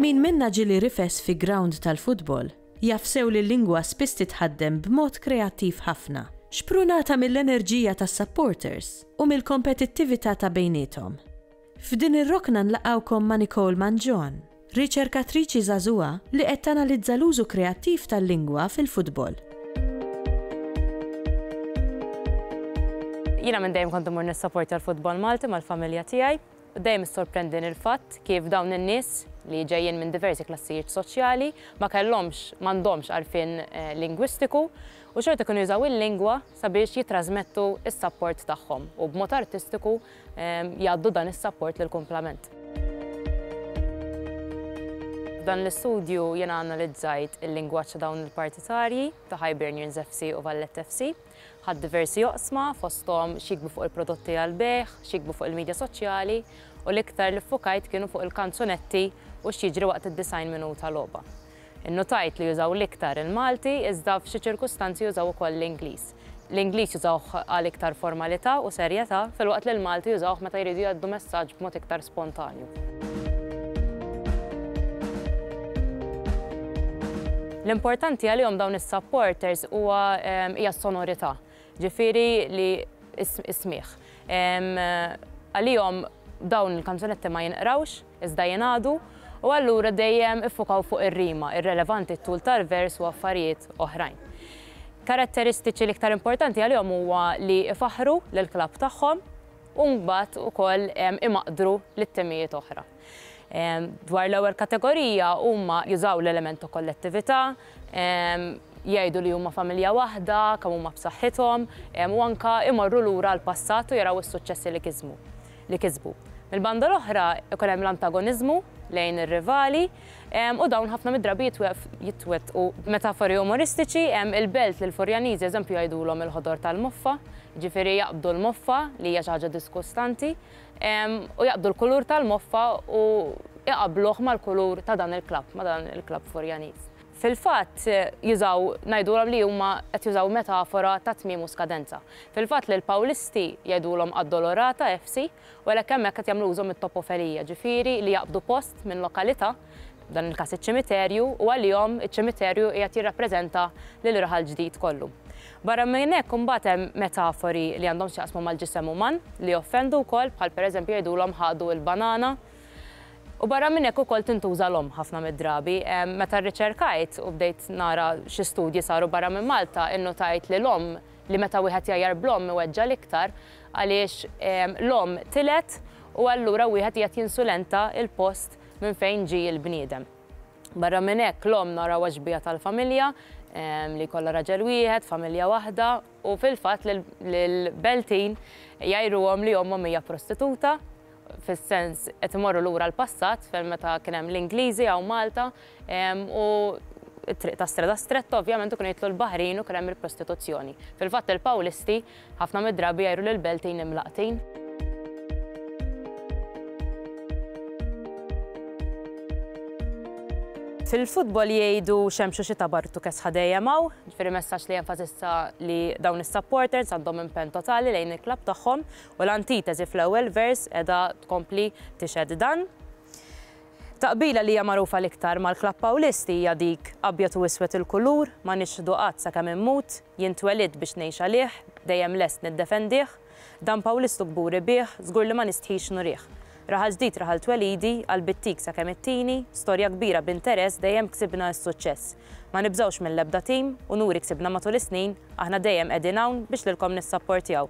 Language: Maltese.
Min minna ġili rifes fi ground tal-futbol, jaf sew li l-lingwa spiss titħaddem b'mod kreattiv ħafna, xprunata mill-enerġija tas-supporters u mill-kompetittività ta' bejniethom. F'din ir-rokna nlaqgħukom ma' Nicole Mangion, riċerkatriċi żagħżugħa li qed tanalizza l-użu kreattiv tal-lingwa fil-futbol. Jiena minn dejjem kont immur nissapportja l-futbol Malti mal-familja tiegħi u dejjem issorprendini l-fatt kif dawn in-nies li ġejjin minn diversi klassijiet soċjali ma kellhomx, m'għandhomx għarfien lingwistiku u xorta kienu jużaw il-lingwa sabiex jittrażmettu s-sapport tagħhom u b'mod artistiku jgħaddu dan is-sapport lill-kumplament. F'dan l-istudju jiena analizzajt il-lingwaġġ ta' dawn il-partitarji ta' Hibernians FC u Valletta FC. Ħadt diversi oqsma fosthom x'jiktbu fuq il-prodotti għall-bejgħ, x'jiktbu fuq il-midja soċjali u l-iktar li ffukajt kienu fuq il-kanzunetti u x'jiġri waqt id-90 minuta logħba. Innutajt li jużaw l-iktar il-Malti iżda f'xi ċirkustanzi jużaw ukoll l-Ingliż. L-Ingliż jużawh għal iktar formalità u serjetà filwaqt li l-Malti jużawh meta jridu jgħaddu messaġġ b'mod iktar spontanju. L-importanti għalihom dawn is-supporters huwa hija s-sonorità. Ġifieri li s-smigħ. Għalihom dawn il-kanzunetti ma jinqrawx, iżda jingħadu, u allura dejjem iffukaw fuq ir-rima, irrelevanti t-tul tal-vers u affarijiet oħrajn. Karatteristiċi l-iktar importanti għalihom huwa li jfaħħru lill-klabb tagħhom u mbagħad ukoll imaqdru lil timijiet oħra. Dwar l-ewwel kategorija, huma jużaw l-element ta' kollettività, jgħidu li huma familja waħda, kemm huma b'saħħithom, u anke jmorru lura għall-passat u jaraw is-suċċessi li kismu, li kisbu. Mill-banda l-oħra, ikun hemm l-antagoniżmu lejn ir-rivali, u dawn ħafna mid-drabi jitwettqu b'metafori umoristiċi, il-belt li l-Furjaniżi, eżempju, jgħidulhom il-ħodor tal-moffa, jiġifieri jaqbdu l-moffa li hija xi ħaġa diskustanti, u jaqbdu l-kulur tal-moffa u jqabbluh mal-kulur ta' dan il-klabb, ma' dan il-klabb Furjaniż. Fil-fatt jużaw, ngħidulhom li huma qed jużaw metafora ta' tmiem u skadenza. Fil-fatt lill-Pawlisti jgħidulhom Addolorata FC u għalhekk hemmhekk qed jagħmlu użu mit-topofenija, ġifieri li jaqbdu post minn lokalità, f'dan il-każ iċ-ċimiterju, u għalihom iċ-ċimiterju qiegħed jirrappreżenta lill-raħal ġdid kollu. Barra minn hekk imbagħad hemm metafori li għandhom x'jaqsmu mal-ġisem uman li joffendu wkoll bħal pereżempju jgħidulhom ħadu l-banana. U barra minn hekk ukoll tintuża l-omm ħafna mid-drabi. Meta rriċerkajt u bdejt nara xi studji saru barra minn Malta innutajt li l-omm li meta wieħed jgħajjar bl-omm iweġġa' l-iktar għaliex l-omm tilgħet u allura wieħed qiegħed jinsulenta l-post Minn fejn ġie l-bniedem? Barra minn hekk, l-omm narawha xbieha tal-familja, li jkollha raġel wieħed, familja waħda, u fil-fatt lill-Beltin jgħiruhom li ommhom hija prostituta, fis-sens qed imorru lura l-passat fejn meta kien hemm l-Ingliżi hawn Malta u t-triq ta' Streda Stretta ovvjament u kienu jidħlu l-baħrin u kien hemm il-prostituzzjoni. Fil-fatt il-Pawlisti Ħafna mid-drabi jgħajru lil beltin imlaqqtin. Fil-futbol jgħidu xemx u xita bartu kesħa dejjem hawn. Ġifieri messaġġ li jenfasizza li dawn is-supporters għandhom impenn totali lejn il-klabb tagħhom u l-antiteżi fl-ewwel vers qiegħda tkompli tixhed dan. Taqbila li hija magħrufa l-iktar mal-klabb Pawlisti hija dik abjad u iswed il-kulur, ma nixħdu qatt sakemm immut. Jien twelidt biex ngħix għalih, dejjem lest niddefendih, Dan Pawlistu kburi bih, żgur li ma nistħix nurih. Raħal ġdid raħal twelidi, qalbi ttik sakemm ittini, Storja kbira b'interess, dejjem ksibna s-suċċess. Ma nibżgħux mill-ebda tim, unuri ksibna matul is-snin, Aħna dejjem qegħdin hawn, biex lilkom nissapportjaw,